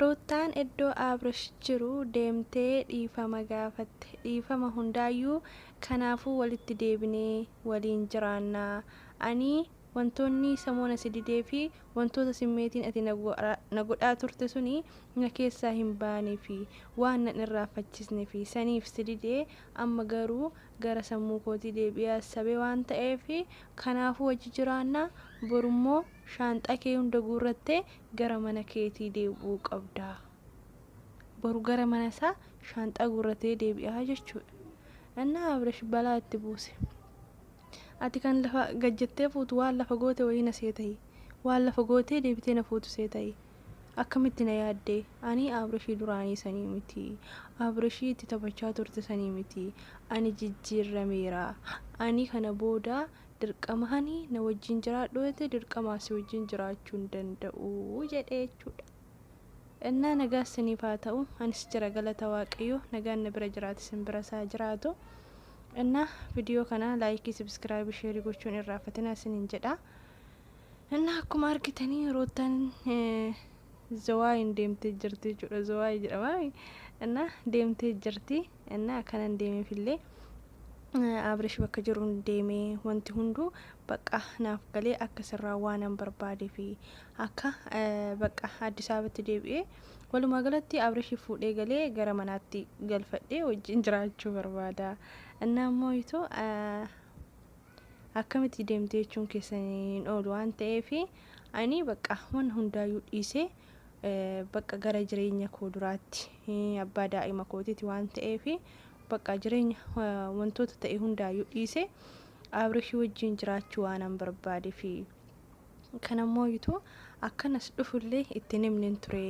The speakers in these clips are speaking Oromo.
Ruuttaan iddoo Abrish jiru deemtee dhiifama gaafatte. Dhiifama hundaayyuu kanaafuu walitti deebinee waliin jiraanna. Ani wantoonni sammuu na si didee fi wantoota simmeetiin ati na godhaa turte suni na keessaa hin baane fi waan nan irraanfachisne fi saniif si dide amma garuu gara sammuu kootii deebi'ee assabe waan ta'eef kanaafuu wajji jiraanna borummoo shaanxaa kee hunda guurrattee gara mana keetii deebi'uu qabda. Boru gara mana isaa shaanxaa guurratee deebi'aa jechuudha. Annaa Abrash balaa itti buuse. Ati kan lafa gajjattee fuutu waan lafa goote wayii na seetayi. Waan lafa gootee deebitee na fuutu seetayi. Akkamitti na yaaddee? Ani Abrashii duraanii sanii miti. Abrashii itti taphachaa turte sanii miti. Ani jijjiirrameera. Ani kana booda dirqamahanii na wajjin jiraadhu jette dirqamaa si wajjin jiraachuu hin danda'u jedhe jechuudha. Innaa nagaa isiniif haa ta'u anis jira galata waaqayyoo nagaan na bira jiraate isin bira isaa jiraatu. Innaa viidiyoo kana laayikii sabiskiraayibii sheerii gochuun irraafatina isiniin jedha. Innaa akkuma argitanii ruuttaan zawaayin deemtee jirti jechuudha zawaayi jedhama. Innaa deemtee jirti. Innaa akkanan deemeefillee Abrish bakka jiruun deemee wanti hunduu bakka naaf galee akka sirraa waanan barbaadee fi akka bakka Addis Ababatti deebi'ee walumaa galatti Abrish fuudhee galee gara manaatti galfadhee wajjin jiraachuu barbaada. Innaa immoo itoo akkamitti deemtee jechuun keessan hin oolu waan ta'eef ani bakka waan hundaayyuu dhiisee Bakka gara jireenya koo duraatti abbaa daa'ima kootiiti waan ta'eef bakka jireenya wantoota ta'e hundaayyuu dhiise Abrishii wajjin jiraachuu waanan barbaadeef kanammoo yituu akkanas dhufullee itti himnen ture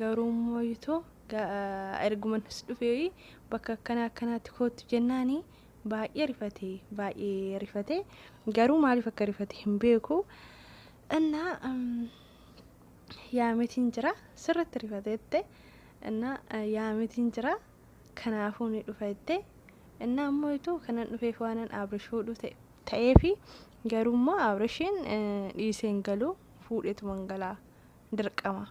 garuu immoo yituu ergumanis dhufee bakka akkana akkanaatti koottu jennaani baay'ee rifate baay'ee rifate garuu maaliif akka rifate hin beeku. እና yaametiin jira sirritti rifate jette inna yaametiin jira kanaafuu ni dhufa jette inna ammoo ituu kanan dhufeef waanan abrish fuudhu ta'e ta'eefi garuu immoo abrishiin dhiiseen galuu fuudhetuman galaa dirqama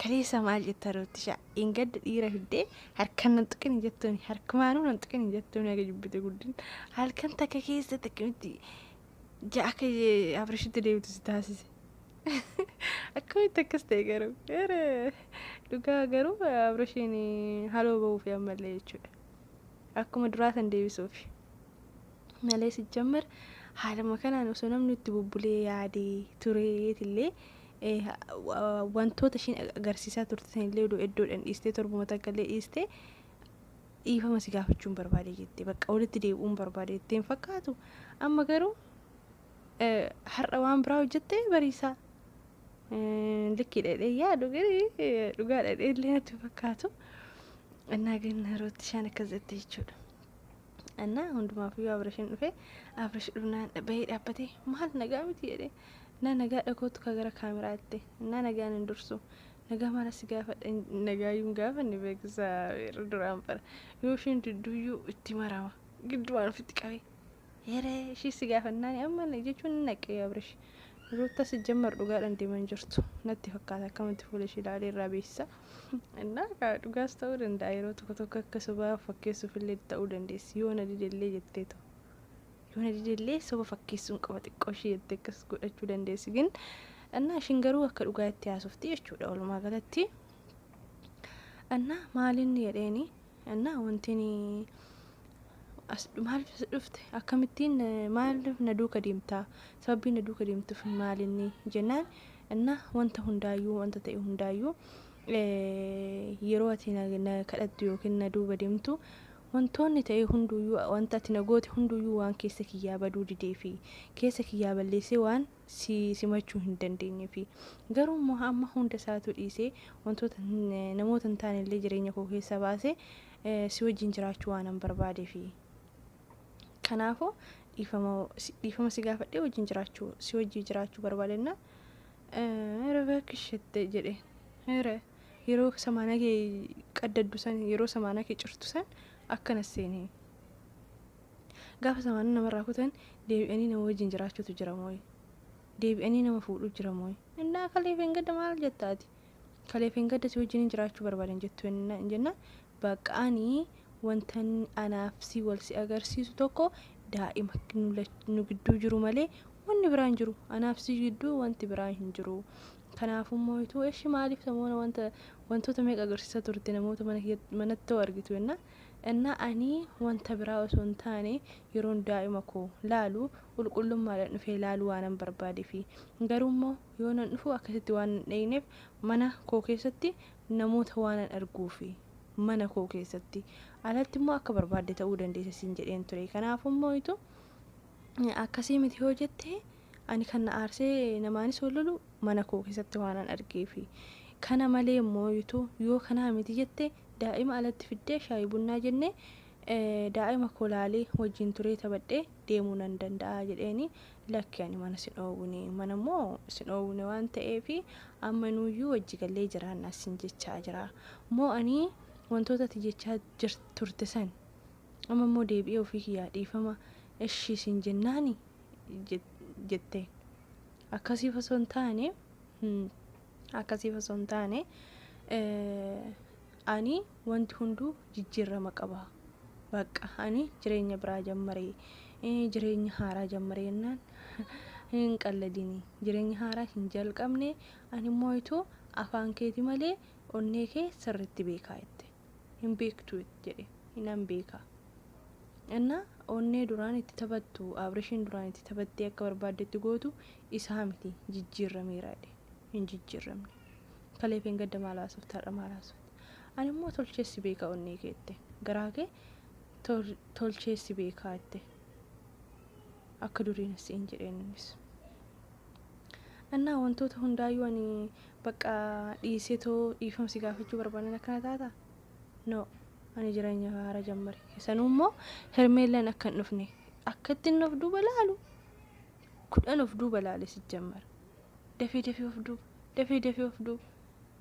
kaleessa maal jetta roottisha ingadda dhiira fiddee harkan nan tuqin hin jettuuni harkumaanuu nan tuqin hin jettuuni aga jibbite guddin halkan takka keessa takkamitti Ja akka eh, Abrishitti deemtu si taasise. Akkamitti akkas ta'e garuu? Ere, Dhugaa garuu eh, Abrishiin eh, haloo ba'uuf ammallee jechuudha. Akkuma duraa san deebisuuf. Malee si jammar haaluma kanaan osoo namni itti bubbulee yaadee tureetillee eh, wa- wantoota ishiin agarsiisaa turte sanillee odoo iddoodhaan dhiistee torbuma takka illee dhiistee Dhiifama si gaafachuun barbaade jette bakka walitti deebi'uun barbaade jettee hin fakkaatu amma garuu eh, har'a waan biraa hojjette bariisaa Eh, likkii dhedhee yaadu garii eh, dhugaa dhedhee illee natti hin fakkaatu annaa gan rooti shaan akkas jette jechuudha annaa hundumaafuu abrashin dhufe abrash dhufnaan bahee dhaabbatee maal nagaa miti jedhee na nagaa dhakootu ka gara kaameraa jette na nagaan hin dursu Nagaa maala si gaafadha nagaayyuu hin gaafanne beekisa yeroo duraan bara yoo isheen didduuyyuu itti marama giddumaan ofitti qabee yeree ishii si gaafannaan amma jechuun hin naqqee abrish ruutta si jammar dhugaadhaan deeman jirtu natti fakkaata akkamatti fuula ishii ilaalee irraa beeksisa innaa kaa dhugaas ta'uu danda'a yeroo tokko tokko akka sobaa fakkeessuuf illee ta'uu dandeessi yoo na didellee jetteetu Yoo na didellee soba fakkeessuun qaba xiqqoo ishii jettee akkas godhachuu dandeessi gin annaa ishiin garuu akka dhugaa itti haasofti jechuudha walumaa galatti annaa maalin jedheeni annaa wantiin as maaliif as dhufte akkamittiin eh, maaliif na duuka deemtaa sababii na duuka deemtuuf maalinni jennaan annaa wanta hundaayyuu wanta ta'e hundaayyuu eh, yeroo ati na, na kadhattu yookiin na duuba deemtu Wantoonni ta'e hunduuyyuu, wanti ati na goote hunduuyyuu waan keessa kiyyaa baduu dideefi. Keessa kiyyaa balleessee waan si simachuu hin dandeenyeefi. Garuu immoo amma hunda isaatuu dhiisee wantoota namoota hin taane illee jireenya koo keessaa baasee si wajjin jiraachuu waanan barbaadeefi. Kanaafuu dhiifama dhiifama si gaafadhee wajjin jiraachuu si wajjin jiraachuu barbaadennaan Hira bakki ishette jedheen. Hira Yeroo samaana kee qaddaddu san, yeroo samaana kee cirtu san akkana seeni. Gaafa samaana namarraa kutan deebi'anii nama wajjin jiraachuutu jira mooyi? Deebi'anii nama fuudhuu jira mooyi? Innaa kalee feengadda maal jetta ati? Kalee feengadda si wajjinin jiraachuu barbaadan jettu jennaan Baqqa ani wantan anaaf si wal si agarsiisu tokko daa'ima nu lach- nu gidduu jiru malee wanni biraa hin jiru. Anaaf si gidduu wanti biraa hin jiru. Kanaafuu immoo ituu eshi maaliif samoona wanta wantoota meeqa agarsiisaa turte namoota mana kee manatti hoo argitu jenna. Innaa ani wanta biraa osoo hin taane yeroon daa'ima koo laalu qulqullummaadhaan dhufee laaluu waanan barbaadeefi. Garuu immoo yoonan dhufu akkasitti waan hin dheyneef mana koo keessatti namoota waanan arguufi. Mana koo keessatti. Alatti immoo akka barbaadde ta'uu dandeessa siin jedheen ture. Kanaafuu immoo itu akkasii miti yoo jette ani kan na aarsee namaanis wal lolu mana koo keessatti waanan argeefi. Kana malee immoo itu yoo kanaa miti jette daa'ima alatti fiddee shaayii bunnaa jennee daa'ima koo laalee wajjin turee taphadhee deemuu nan danda'a jedheeni lakki ani mana sin dhoowwine mana immoo sin dhoowwine waan ta'eef amma nuuyyuu wajji gallee jiraannaa sin jechaa jira moo ani wantoota ati jechaa jir- turte san amma immoo deebi'ee ofii kiyyaa dhiifama ishii sin jennaani jet- jette akkasiif osoo hin taane hmm, akkasiif osoo hin taane eh, ani Wanti hunduu jijjiirrama qaba. Baqqa ani jireenya biraa jammare, jireenya haaraa jammare jennaan hin qalladini. Jireenya haaraa hin jalqabne ani immoo itu afaan keeti malee onnee kee sirritti beekaa jette. Hin beektu jedhe hinan beeka. Inna onnee duraan itti taphattu Abrishiin duraan itti taphattee akka barbaaddetti gootu isaa miti jijjiirrameera jedhe hin jijjiirramne. Kaleef hin gadda maal haasofte har'a maal haasofte. Ani immoo tolchee si beeka onnee kee jette. Garaa kee tol- tolchee si beekaa jette. Akka duriin siin jedheen innis. Annaa wantoota hundaayyuu ani bakka dhiisee too dhiifama si gaafachuu barbaadan akkana taata? No, ani jireenya haara jammare. Sanuu immoo Hermeellaan akka hin dhufne akka itti inni of duuba laalu kudhan of duuba laale si jammara. Dafee dafee of duuba, dafee dafee of duuba.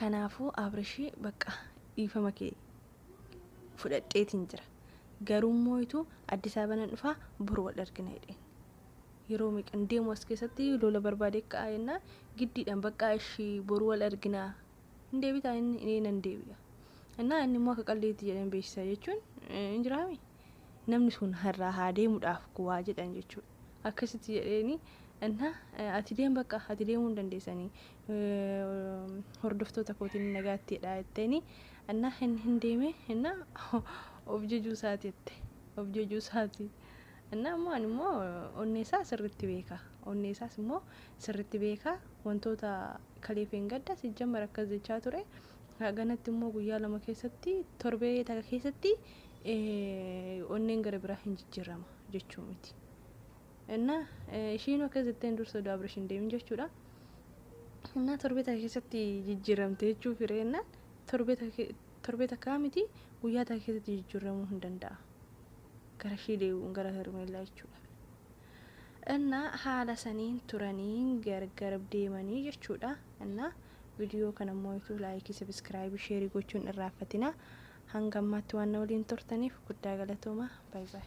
Kanaafuu Abrishii bakka dhiifama kee fudhadheetiin jira. Garuu immoo itu Addis Ababa nan dhufa bor wal argina jedheen. Yeroo meeqan deemu as keessatti lola barbaade ka'a jennaan giddiidhaan baqqaa ishii bor wal argina hin deebitaa inni inni nan deebi'a. Innaa inni immoo akka qalleetti jedheen beeksisa jechuun eh, hin jiraami. Namni sun har'aa haa deemudhaaf kuwaa jedhan jechuudha. Akkasitti jedheeni innaa eh, ati deem bakka ati deemuu hin dandeessanii hordoftoota kootiin nagaattiidha jetteeni annaa hin hin deeme inna of jejuu isaati jette of jejuu isaati innaa immoo ani immoo onnee isaa sirritti beeka onnee isaas immoo sirritti beeka wantoota kaleefeen gadda sijjammar akkas jechaa ture ganatti immoo guyyaa lama keessatti torbee takka keessatti onneen gara biraa hin jijjiirama jechuu miti. እና ishiin akkas jetteen dursa oduu abirish hin deemin jechuudha Innaa torbee takka keessatti jijjiiramte jechuu fire jennaan torbee takka torbee takkaa miti guyyaa takka keessatti jijjiiramuu hin danda'a. Gara ishii deebi'uun gara Hermeellaa jechuudha. Innaa haala saniin turanii gargar deemanii jechuudha. Innaa viidiyoo kana immoo ituu laayikii sabiskiraayibii sheerii gochuun irraanfatina. Hanga ammaatti waan na waliin turtaniif guddaa galatooma. Baay baay.